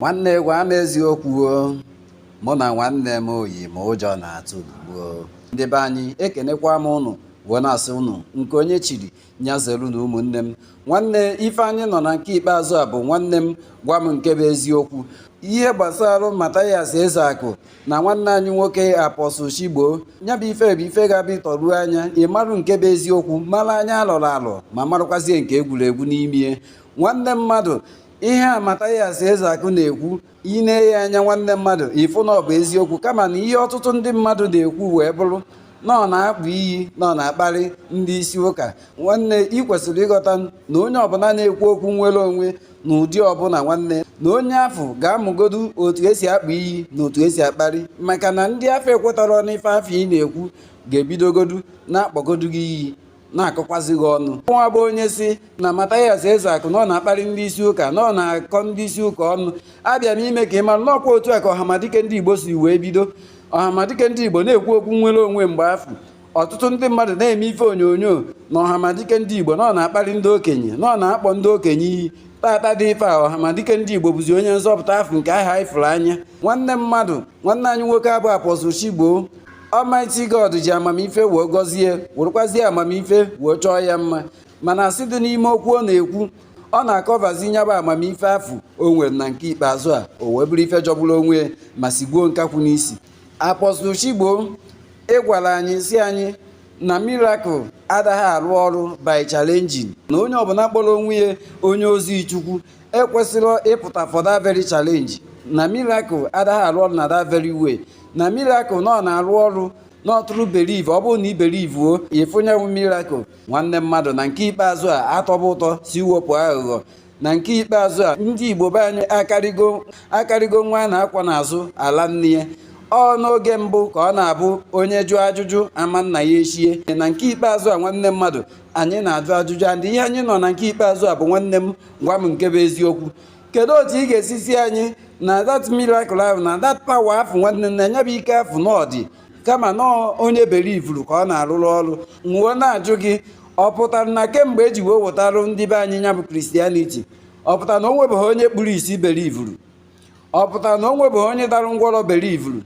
nwanne gwa m eziokwu ọ mụ na nwanne m oyi ma ụjọ na-atụ ugbuo ndị be anyị ekenekwa m ụnụ wee na-asị ụnụ nke onye chiri nya zelu na ụmụnne m nwanne ife anyị nọ na nke ikpeazụ a bụ nwanne m gwa m nke bụ eziokwu ihe gbasara Mathias ezeakụ na nwanne anyị nwoke Apostle Chigbo ya bụ ife bụ ife ga-abịa ị tọruo anya ị marụ nke bụ eziokwu mara anya alọrọ alọ ma marụkwazie nke egwuregwu n'ime nwanne mmadụ ihe a Mathias Ezeakụ na-ekwu i nenye anya nwanne mmadụ ị fụ na ọ bụ eziokwu kama na ihe ọtụtụ ndị mmadụ na-ekwu wee bụrụ na ọ na-akpọ iyi na ọ na-akparị ndị isi ụka nwanne ị kwesịrị ịghọta na onye ọbụla na-ekwu okwu nwere onwe na ụdị ọbụla nwanne na onye afụ ga-amụgodu otu esi akpọ iyi na otu esi akparị maka na ndị afụ ekwetarọ n'ife afụ ị na-ekwu ga-ebidogodu na-akpọgodu gị iyi na-akọkwazi gị ọnụ nya bụ onye sị na Mathias Ezeaku na ọ na-akparị ndị isi ụka na ọ na-akọ ndị isi ụka ọnụ abịa m ime ka ị mara na ọ kwa otu a ka ọhamadike ndị Igbo si wee bido ọhamadike ndị Igbo na-ekwu okwu nwere onwe mgbe afụ ọtụtụ ndị mmadụ na-eme ife onyonyo na ọhamadike ndị Igbo na ọ na-akparị ndị okenye na ọ na-akpọ ndị okenye iyi tata dị ife a ọhamadike ndị Igbo bụzi onye nzọpụta afụ nke ha ifuru anya nwanne mmadụ nwanne anyị nwoke a bụ Apostle Chigbo Almighty God ji amamife wee gọzie werekwazie amamife wee chọọ ya mma mana asị dị n'ime okwu ọ na-ekwu ọ na-akọvazi nya bụ amamife afụ o nwere na nke ikpeazụ a o wee bụrụ ife jọgburu onwe ma sigbuo nkakwụ n'isi Apostle Chigbo ị gwara anyị sị anyị na miracle adaghị arụ ọrụ by challenging na onye ọbụla kpọrọ onwe ya onye ozi chukwu ekwesirọ ịpụta for that very challenge na miracle adaghị arụ ọrụ na that very way na miracle na ọ na-arụ ọrụ na ọ through believe ọ bụrụ na i belivuo ị fụ nya bụ miracle nwanne mmadụ na nke ikpeazụ a a tọba ụtọ sị wepụ aghụghọ na nke ikpeazụ a ndị igbo be anyị akarịgo akarịgo nwa a na-akwọ n'azụ ala nne ya ọ n'oge mbụ ka ọ na-abụ onye jụọ ajụjụ ama nna ya echie na nke ikpeazụ a nwanne mmadụ anyị na-ajụ ajụjụ ụdị ihe anyị nọ na nke ikpeazụ a bụ nwanne m gwa m nke bụ eziokwu kedu otu ị ga-esi sị anyị na that miracle ahụ na that power afụ nwanne na nya bụ ike afụ na ọ dị kama na ọ onye belivuru ka ọ na-arụrụ ọrụ m wee na-ajụ gị ọ pụtara na kemgbe eji wee wetarụ ndị be anyị nya bụ Christianity ọ pụtara na o nwebeghị onye kpuru isi belivuru ọ pụtara na o nwebeghị onye dara ngwọrọ belivuru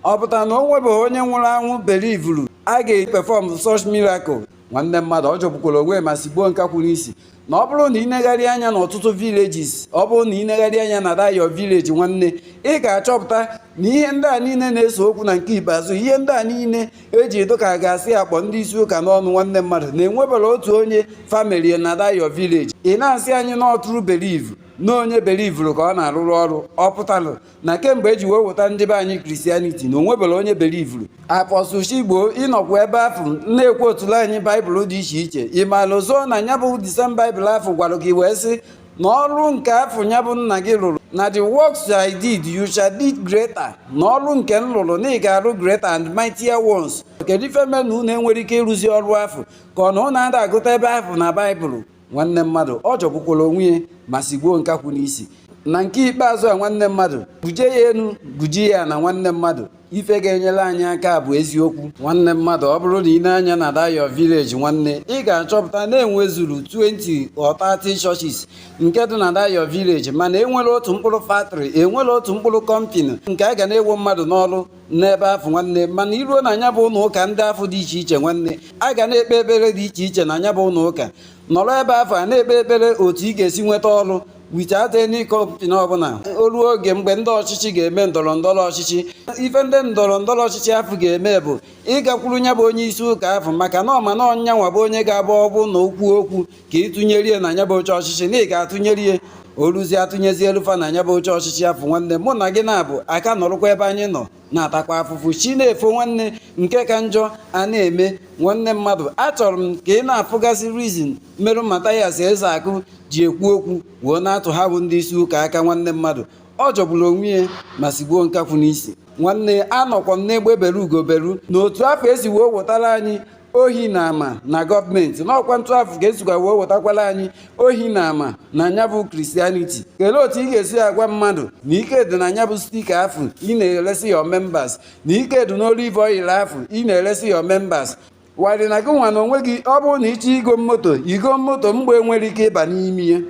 ọ pụtara na o nwebeghị onye nwụrụ anwụ belivuru a ga-epefọm such miracle nwanne mmadụ ọ jọgbukwara onwe ma sigbuo nkakwụ n'isi na ọ bụrụ na ị negharị anya n'ọtụtụ villages ọ bụrụ na ị negharị anya na that your village nwanne ị ga-achọpụta na ihe ndị a niile na-ese okwu na nke ikpeazụ ihe ndị a niile eji dị ka a ga-asị akpọ ndị isi ụka n'ọnụ nwanne mmadụ na enwebarọ otu onye famili na that your village ị na-asị anyị na ọ through believe na onye belivuru ka ọ na-arụrụ ọrụ ọ pụtalụ na kemgbe eji wee weta ndị be anyị Christianity na o nweberọ onye belivuru apọstụl chigbo ị nọkwa ebe afụ na-equote-ulu anyị baịbụl dị iche iche ị marọzị na nya bụ the same baịbụl afụ gwara gị wee sị na ọrụ nke afụ nya bụ nna gị rụrụ na the works I did you shall did greater na ọrụ nke m lụrụ na ị ga-arụ greater and mightier ones kedu ife mee na unu enwerọ ike ịrụzi ọrụ afụ ka ọ na unu ada agụta ebe afụ na baịbụl nwanne mmadụ ọ jọgbukwara onwe ya ma sigbuo nkakwụ n'isi na nke ikpeazụ a nwanne mmadụ guje ya enu guje ya ana nwanne mmadụ ife ga-enyere anyị aka bụ eziokwu nwanne mmadụ ọ bụrụ na ị nee anya na that your village nwanne ị ga-achọpụta na enwezuru 20 or 30 churches nke dị na that your village mana enwerọ otu mkpụrụ factory enwerọ otu mkpụrụ company nke a ga na-ewo mmadụ n'ọrụ n'ebe afụ nwanne mana i ruo na nya bụ ụnọ ụka ndị afụ dị iche iche nwanne a ga na-ekpe ekpere dị iche iche na nya bụ ụnọ ụka nọrọ ebe afụ a na-ekpe ekpere otu ị ga-esi nweta ọrụ without any company ọbụla o ruo oge mgbe ndị ọchịchị ga-eme ndọrọ ndọrọ ọchịchị ife ndị ndọrọ ndọrọ ọchịchị afụ ga-eme bụ ịgakwuru nya bụ onye isi ụka afụ maka na ọ ma na ọ nyanwa bụ onye ga-abụ ọ bụ na o kwuo okwu ka ị tụnyere ya na nya bụ oche ọchịchị na ị ga-atụnyere ya o ruzie a tụnyezielu fa na nya bụ oche ọchịchị afụ nwanne mụ na gị na-abụ aka nọrụkwa ebe anyị nọ na-atakwa afụfụ chi na-efo nwanne nke ka njọ a na-eme nwanne mmadụ achọrọ m ka ị na-afụgasị reason merụ Mathias Ezeaku ji ekwu okwu wee na-atụ ha bụ ndị isi ụka aka nwanne mmadụ ọ jọgburu onwe ya ma sigbuo nkakwụ n'isi nwanne anọkwa m n'egbe beru ugo beru na otu afụ esi wee wetara anyị ohi na ama na gọọmenti na ọkwa otu afụ ka esikwa wee wetakwala anyị ohi na ama na nya bụ Christianity kelee otu ị ga-esi agwa mmadụ na ike dị na nya bụ sticker afụ ị na-eresi your members na ike dị n'olive oil afụ ị na-eresi your members while na gị nwa na onwe gị ọ bụrụ na ị chọọ igo moto igo moto mgbọ enwerọ ike ịba n'ime ya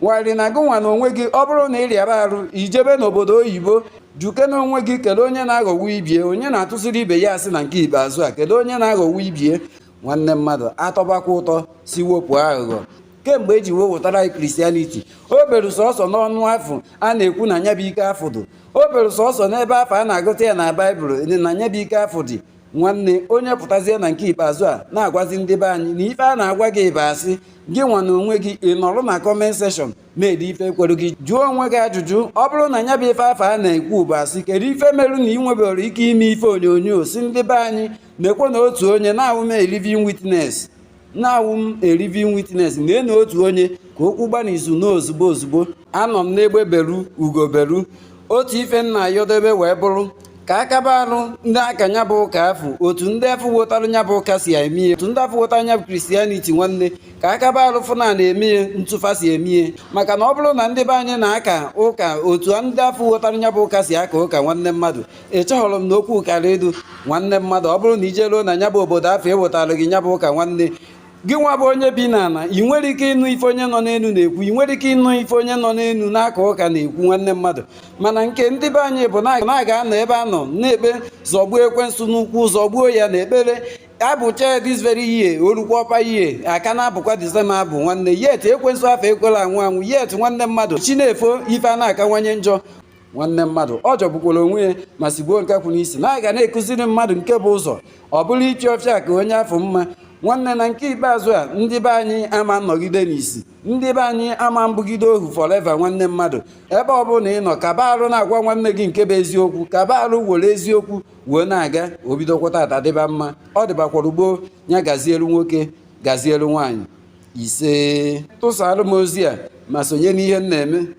while na gị nwa na onwe gị ọ bụrụ na ị rịaba arụ i jebe n'obodo oyibo jụkene onwe gị kedu onye na-aghọgbu ibie onye na-atụsiri ibe ya asị na nke ikpeazụ a kedu onye na-aghọgbu ibie nwanne mmadụ atọbakwa ụtọ si wepụ aghụghọ kemgbe eji wee wetara anyị Christianity o beru sọsọ n'ọnụ afụ a na-ekwu na nya bụ ike afụ dị o beru sọsọ n'ebe afụ a na-agụta ya na baịbụl na nya bụ ike afụ dị nwanne onye pụtazie na nke ikpeazụ a na-agwazi ndị be anyị na ife a na-agwa gị bụ asị gị nwa na onwe gị ị nọrọ na comment section na-ede ife kwere gị jụọ onwe gị ajụjụ ọ bụrụ na nya bụ ife afụ a na-ekwu bụ asị kedu ife merụ na ị nweberọ ike ime ife onyonyo gosi ndị be anyị nekwa na otu onye na-awụ m a living witness na-awụ m a living witness na enu otu onye ka okwu gbana izu na ozugbo ozugbo anọ m n'egbe beru ugo beru otu ife m na-ayọ ndị be wee bụrụ ka akaba arụ ndị aka nya bụ ụka afụ otu ndị afụ wotara nya bụ ụka si eme ihe otu ndị afụ wotara nya bụ Christianity nwanne ka akaba arụ fụ na na-eme ihe otu fa si eme ihe maka na ọ bụrụ na ndị be anyị na-aka ụka otu ndị afụ wotara nya bụ ụka si aka ụka nwanne mmadụ ịchọghọrọ m na okwu kara edu nwanne mmadụ ọ bụrụ na i jeruo na nya bụ obodo afụ e wetara gị nya bụ ụka nwanne gị nwa bụ onye bi n'ala ị nwere ike ịnụ ife onye nọ n'elu na-ekwu ị nwere ike ịnụ ife onye nọ n'elu na-aka ụka na-ekwu nwanne mmadụ mana nke ndị be anyị bụ na a ga-anọ ebe a nọ na-ekpe zọgbuo ekwensu n'ukwu zọgbuo ya n'ekpere a bụchaa this very year o lukwa upper year a ka na-abụkwa the same abụ nwanne yet ekwensu afụ ekwela anwụ anwụ yet nwanne mmadụ chi na-efo ife a na-akawanye njọ nwanne mmadụ ọ jọgbukwara onwe ya ma sigbuo nkakwụ n'isi na a ga na-ekụziri mmadụ nke bụ ụzọ ọ bụrụ ichi ọfịa ka onye afụ mma nwanne na nke ikpeazụ a ndị be anyị ama anọgide n'isi ndị be anyị ama abụgide ohu forever nwanne mmadụ ebe ọ bụla ị nọ kaba arụ na-agwa nwanne gị nke bụ eziokwu kaba arụ were eziokwu wee na-aga o bidokwa tata dịba mma ọ dịbakwara gboo ya gazielu nwoke gazielu nwaanyị ise tụsara m ozi a ma sonye n'ihe m na-eme